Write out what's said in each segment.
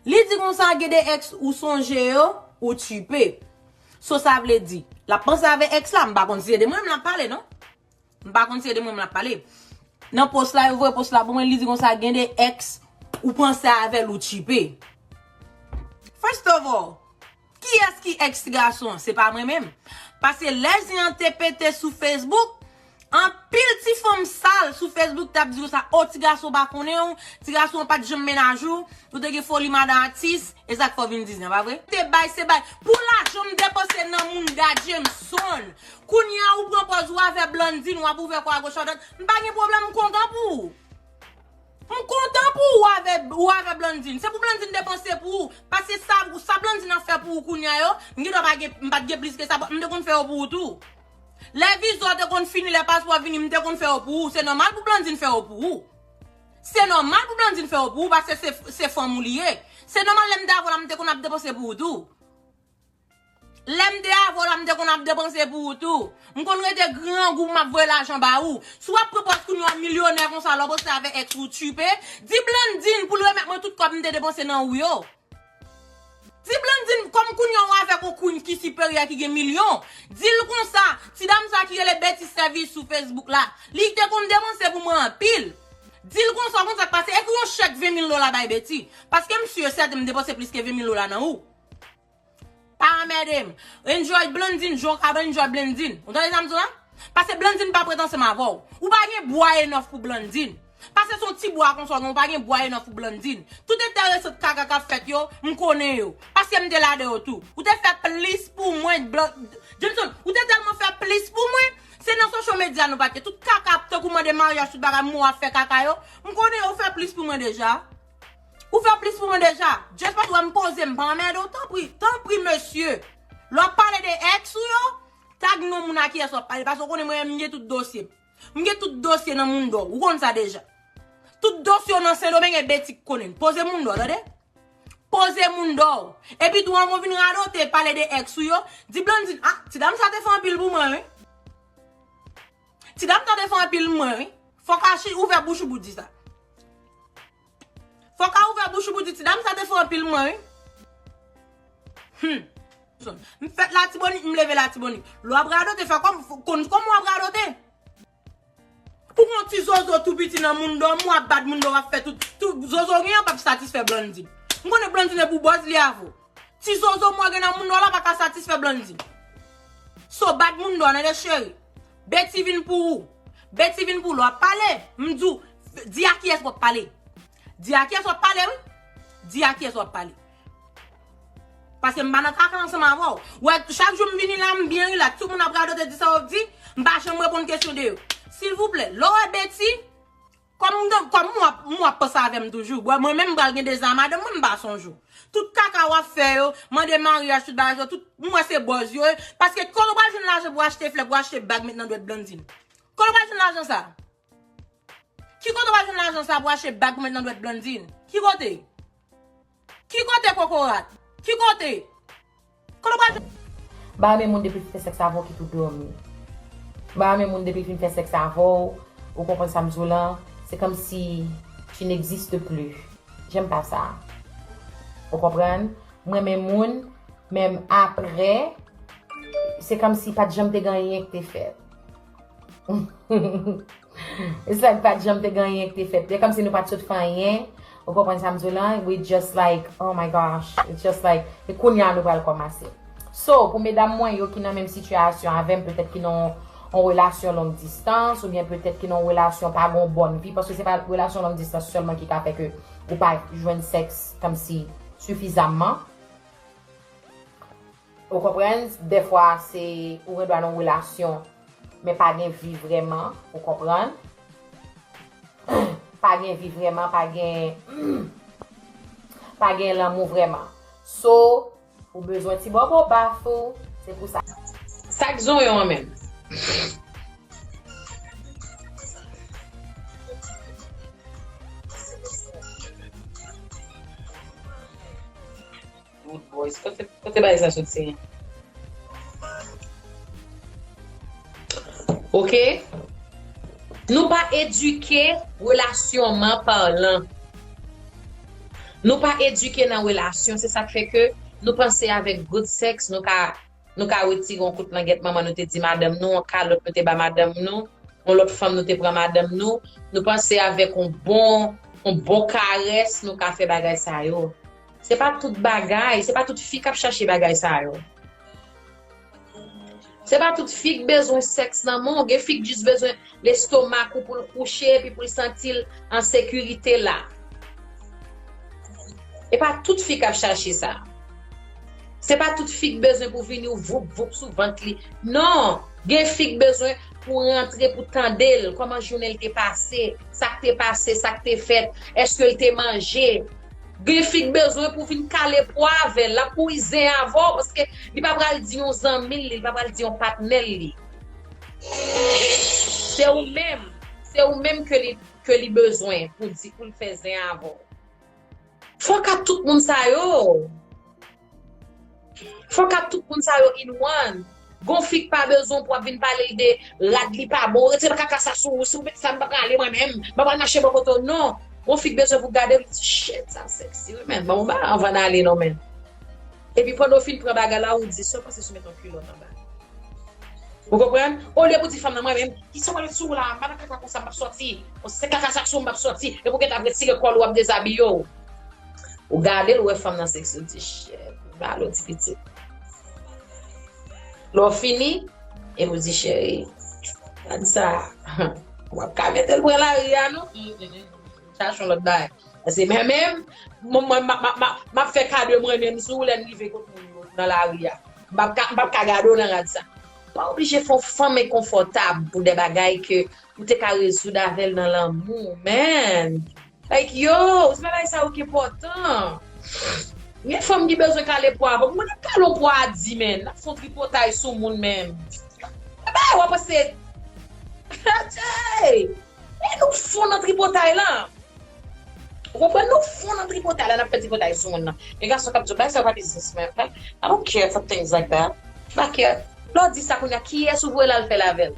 Li di konsa gen 2 ex ou sonje yo ou tchipe. So sa vle di lap panse avè ex la, m pa konn si se de mwen menm lap pale non. M pa konn si se de mwen menm lap pale. Nan post la yo voye post la pou mwen li di konsa gen 2 ex ou panse avèl ou tchipe. First of all. Kiyès ki ex ti gason an? Se pa mwen menm. Pase lè zen an te pete sou Facebook, anpil ti fanm sal sou Facebook t ap di konsa, oh ti gason pa konnen w, ti gason an pa t janm menaj ou, ou te gen foli madan atis, e sa k fè w vin di zen an, pa vre? Te bay se bay. Pou lajan m depanse nan moun Da Jameson. Kounye a ou pran pòz ou avè Blandine, w ap ouvè kò agoch adwat. M pa gen pwoblèm, m kontan pou ou. M kontan pou ou ou avè Blandine. Se pou Blandine depanse pou ou. Paske sa sa Blandine ap fè pou ou kounya yo, m gen dwa pa gen, m pat gen plis ke sa but m te konn fè yo pou ou tou. Lè viza w te konn fini, lè paspò w vini, m te konn fè yo pou ou. Se nòmal pou Blandine fè yo pou ou. Se nòmal pou Blandine fè yo pou ou paske se fanm ou li ye. Se nòmal lè m te avè w la m te konn ap depanse pou ou tou. Lèm te avè w la m te konn ap depanse pou ou tou. M konn rete grangou pou m ap voye lajan ba ou. Si w ap pran pòz kounye w an milyonè konsa lè w poste avè ex ou tchiipe, di Blandine pou l remèt mwen tout kòb m te depanse nan ou yo. Di Blandine kòm kounye an w avèk on queen ki siperyè ki gen milyon, di l konsa, ti dam sa ki rele Betty Service sou Facebook la, li te konn depanse pou mwen anpil. Di l konsa, konn sa k pase, ekri on chèk 20 mil dola bay Betty. Paske m si e sèten m depanse plis ke 20 mil dola nan ou. Pa anmède m. Enjoy Blandine jan w kapab enjoy Blandine. Ou tande sa m di w la? Pase Blandine pa prèt ansanm avè w. Ou pa gen bwa enòf pou Blandine. Pase se yon ti bwa konsa w gen, ou pa gen bwa enòf pou Blandine. Tout enteresant kaka k ap fèt yo, m konnen yo. Paske m te ladan yo tou. Ou te fè plis pou mwen Jameson, ou te tèlman fè plis pou mwen, se nan social media nou pa t ye. Tout kaka tankou mande maryaj tout bagay, mou ap fè kaka yo, m konnen yo, ou fè plis pou mwen deja. Ou fè plis pou mwen deja. Just paske ou wè m poze m pa anmède w tanpri, tanpri mesye lè w ap pale de ex ou yo tag non moun a kiyès w ap pale paske ou konnen mwen menm m gen tout dosye m. M gen tout dosye nan Mundo ou konn sa deja. Tout dosye w nan Sendomeng e Betty k konnen l. Poze Mundo w tande. Poze Mundo w. Epi tou anvan w vin radote pale de ex ou yo, di Blandine ah ti dam sa te fè anpil pou mwen wi. Ti dam tande son anpil mwen wi. Fok Achi ouvè bouch ou pou di sa. Fok a ouvè bouch ou pou di ti dam sa te son anpil mwen wi. Hum. M fèt latibonit m leve latibonit. Lè w ap radote fè kòm konn kòm w ap radote. Ou gon ti zozo tou piti nan moun dòm w ap bat moun dòm w ap fè tout. Zozo w gen an pap satisfè Blandine. M konnen Blandine e pou bòz li avè w. Ti zozo mwen gen nan moun nò la pa ka satisfè Blandy. So bat moun nò nene cheri. Betty vin pou ou. Betty vin pou ou. Lè wap pale, m di w, di a kiyès wap pale. Di a kiyès wap pale wi. Di a kiyès wap pale. Paske m pa nan kaka ansanm avè w. Ou wè chak jou m vini la m byen rilaks. Tout moun ap radote di sa wap di. M pa janm reponn kesyon de yo. Silvouplè, lè w wè Betty. Kòm kòm ou ap ou ap panse avèm toujou bwè mwen menm pral gen 2 zan madanm mwen mpa sonje ou tout kaka wap fè yo mande maryaj tout bagay sa yo tout m wè se bòz yo ye paske kòlè w pral jwenn lajan pou achte flè pou achte bag met nan dwèt Blandine kòlè w pral jwenn lajan sa ki kote w pral jwenn lajan sa pou achte bag pou met nan dwèt Blandine ki kote. Ki kote kokorat? Ki kote? Kote w pral jwenn. Mpa renmen moun depil fin fè sèks avèw ki tou dòmi mpa renmen moun depil fin fè sèks avèw ou konprann sam diw lan se kòmsi tu n'existes plus j'aime pas ça ou konprann mrenmen moun menm aprè se kòmsi pat janm te gen anyen ki te fèt. It's like pat janm te gen anyen ki te fèt. Se kòmsi nou pat sot fè anyen. Ou konprann sa m di w lan? We just like, oh my gosh. It's just like, e kounye a nou pral kòmanse. So, pou medam mwen yo ki nan menm sitiyasyon avè m, petèt ki nan yon relasyon long distans, oubyen petèt ki nan yon relasyon pa gen yon bòn vi, paske se pa relasyon long distans sèlman ki ka fè ke ou pa jwenn sèks kòmsi sifizamman. Ou konprann, dèfwa se ou gen dwa nan yon relasyon men pa gen vi vrèman, ou konprann. Pa gen vi vrèman, pa gen pa gen lanmou vrèman. So, ou bezwen ti bòbò baf ou, se pou sa. Sak zonyon an menm? Good boys. Kote bagay sa soti? Ok. Nou pa edike relasyonman parlan. Nou pa edike nan relasyon. Se sak fe ke nou panse avek good sex nou ka nou ka retire yon kout langet manman nou te di madanm nou, yon kalot nou te ba madanm nou, yon lot fanm nou te pran madanm nou. Nou panse avek yon bon yon bon kares nou ka fe bagay sa yo. Se pa tout bagay, se pa tout fi kap chache bagay sa yo. Se pa tout fi k bezwen sèks nan men w, gen fi k jis bezwen lestomak ou pou l kouche epi pou l santi l an sekirite la. E pa tout fi kap chache sa. Se pa tout fi k bezwen pou vini w voup voup sou vant li. Non, gen fi k bezwen pou rantre pou tande l, kòman jounen l te pase, sa k te pase, sa k te fèt, èske l te manje. Gen fi k bezwen pou vin kale po avèl lap mouri zen avèw paske li pa pral di yon zanmil li li pa pral di yon patnèl li se ou menm se ou menm ke li bezwen pou di poul fè zen avèw fok a tout moun sa yo. Fok ak tout moun sa yo in one. Gon fi k pa bezwen pou ap vin pale l de rad li pa bon retire kaka sa sou ou si ou met sa m pa prale mwen menm mwen pral mache bò kote w non gon fi k bezwen pou gade l di shit sa sexy wi menn ban m on bagay anvan n ale non menn epi pandan w fin pran bagay la ou di sa w panse si w met on kilòt anba ou konprann olye pou di fanm nan mwen menm kisa w met sou w la m pa nan kaka konsa m pap sòti se kaka sa k sou m m pap sòti epi w gentan ap retire kòl ou ap dezabiye w. Ou gade l ou wè fanm nan seksi ou di chèt ou gade yon ti pitit. Lè w fini epi ou di cheri gade sa ou ap ka mete l pran lari a non chache yon lòt bagay. Paske mwen menm m ap fè ka de mwen menm sou ou lè n rive kot moun yo nan lari a. M p ap ka gade w nan rad sa. Ou pa oblije fè yon fanm enkonfòtab pou de bagay ke ou te ka rezoud avè l nan lanmou men. Like yo, se pa bagay sa yo ki enpòtan. Gen fanm ki bezwen kale po a, bon nap kale yon po a di menn, nap fè yon tripotay sou moun men. Gen bagay wap panse, atchey! Men nou fon nan tripotay la. Ou konprann nou fon nan tripotay la, nap fè tripotay sou moun nan. Gen gason kap di w bagay sa yo pa biznis men, like I don't care for things like that. M pa care. Lè w di sa kounya kiyès ou vwe l al fè l avè l?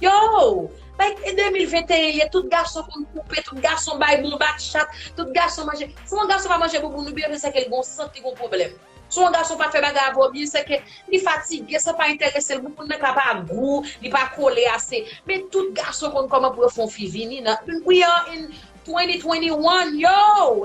Yoow! Bay k e 2021 ye tout gason konn koupe, tout gason bay bon bat chat, tout gason manje, si yon gason pa manje bouboun li byen fè sèke li gon sant li gon pwoblèm. Si yon gason pa fè bagay a vò byen sèke li fatige sa pa entèrese l bouboun nan ka pa gou, li pa kole ase men tout gason konn kòman pou yo fè yon fi vini nan we are in 2021 yoow!